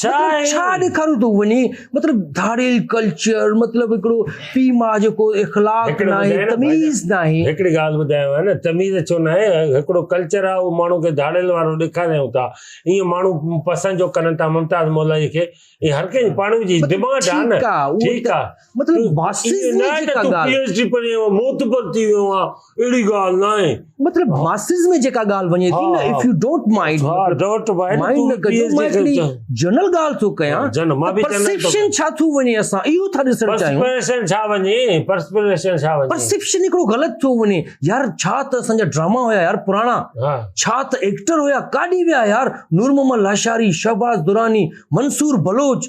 ڇا ڏيکاريون تون وڃي مطلب ڌاڙيل ڪلچر مطلب هڪڙو پي ماء جو ڪو اخلاق نه آهي تميز نه آهي هڪڙي ڳالهه ٻڌايو آهي نه تميز ڇو نه آهي هڪڙو ڪلچر آهي اهو ماڻهو کي ڌاڙيل وارو ڏيکاريون ٿا ائين ماڻهو پسند جو ڪرن ٿا ممتاز مولوي کي هر ڪنهن پاڻ جي ڊيمانڊ آهي نه ٺيڪ آهي مطلب ماسز ۾ جيڪا ڳالهه وڃي ٿي نه if you don't mind mind نه ڪجو مان هڪڙي جنرل ڳالهه ٿو ڪيان پرسيپشن ڇا ٿو وڃي اسان اهو ٿا ڏسڻ چاهيون پرسيپشن ڇا وڃي پرسيپشن ڇا وڃي پرسيپشن هڪڙو غلط ٿو وڃي يار ڇا ته اسان جا ڊراما هيا يار پراڻا ڇا ته ايڪٽر هيا ڪاڏي ويا يار نور محمد لاشاري شهباز دراني منصور بلوچ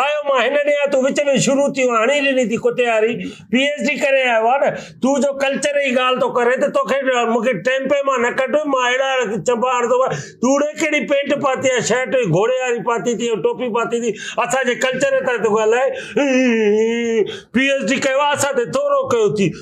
آيو مان هن ڏينهن آ تون وچ ۾ شروع ٿيو هڻي ڏني ٿي ڪتي واري پي ايچ ڊي ڪري آيو آ نه تون جو ڪلچر جي ڳالهه ٿو ڪرين ته توکي مونکي ٽيمپي مان نه ڪڍ مان اهڙا چنبا هڻندو مان تون اڙي ڪهڙي پينٽ پاتي آ شرٽ گهوڙي واري پاتي ٿي ٽوپي پاتي ٿي اسان جي ڪلچر تان ٿو ڳالهائين پي ايچ ڊي ڪيو آ اسان تي ٿورو ڪيو ٿي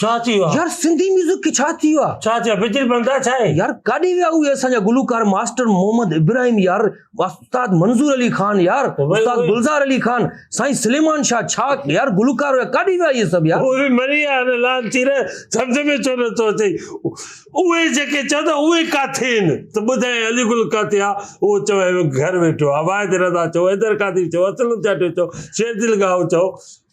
ڇا ٿي ويو آ يار سنڌي ميوزڪ کي ڇا ٿي ويو آ ڇا ٿي ويو بجل بندا ڇا آهي يار ڪاڏي ويا اهي اسان جا گلوڪار ماسٽر محمد ابراهيم يار استاد منظور علي خان يار استاد گلزار علي خان سائين سليمان شاهه ڇا يار گلوڪار هيا ڪاڏي ويا اهي سڀ يار اهي مري ويا ان لال ٿي رهي سمجھ ۾ ڇو نه ٿو اچي اهي جيڪي چوندا اهي ڪاٿي آهن ته ٻڌاي علي گل ڪاٿي آ اهو چو گهر ويٺو آ واحد رضا چو حيدر قادري چو اسلم چاٽيو چو شير دل گاهو چو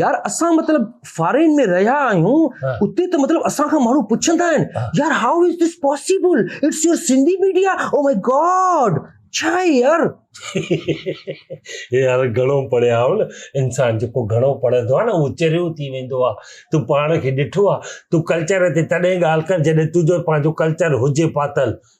يار اسان مطلب فارين ۾ رهيا آهيون اتي ته مطلب اسان کان ماڻهو پڇندا آهن يار how is this possible it's your Sindhi media oh my god ڇا آهي يار يار گهڻو پڙهيا آهو نه انسان جيڪو گهڻو پڙهندو آهي نه اهو چريو ٿي ويندو آهي تون پاڻ کي ڏٺو آهي تون ڪلچر تي تڏهن ڳالهه ڪر جڏهن تنهنجو پنهنجو ڪلچر هجي پاتل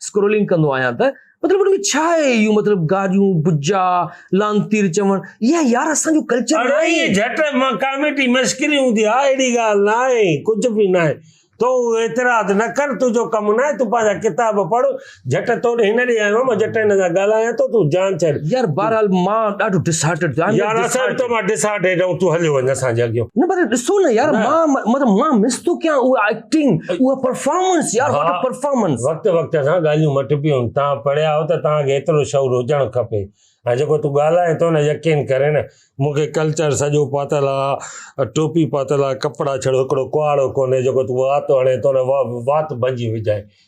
اسڪرولنگ ڪندو آهيان ته مطلب ان ۾ ڇا آهي اهو مطلب گاڏيون بجا لانتير چوڻ اها يار اسان جو ڪلچر اڙائي جھٽ مان ڪاميٽي مشڪل هوندي آ اهڙي ڳالهه نه آهي ڪجھ به نه آهي تو اعتراض نه ڪر تنهنجو ڪم نه آهي تون پنهنجا ڪتاب پڙهه جهٽ تو ڏي هن ڏي آيو آهيان مان جهٽ هن سان ڳالهايان ٿو تون جان ڇڏ يار بهرحال مان ڏاڍو ڊس هارٽيڊ ٿيو آهيان يار اسان به تو مان ڊس هارٽيڊ آهيون تون هليو وڃ اسان جي اڳيو نه پر ڏسو نه يار مان مطلب مان مس ٿو ڪيان اهو ايڪٽنگ اها پرفارمنس يار واٽ پرفارمنس وقت وقت سان ڳالهيون مٽبيون تان پڙهيا آهو ته تان کي ايترو شعور هجڻ کپي ۽ جيڪو تون ڳالهائين ٿو نه يقين ڪري نه مون کي ڪلچر سڄو پاتل آهي ٽوپي پاتل آهي ڪپڙا ڇڙو هڪڙو ڪهاڙو ڪونهي جيڪو تون وات هڻي ٿو نه وات ڀنجي وجهائين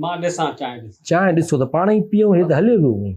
مان ڏسان چانهه ڏسان. چانهه ڏسو ته پاڻ ئي پيئون هي ته هليو ويو اوهين.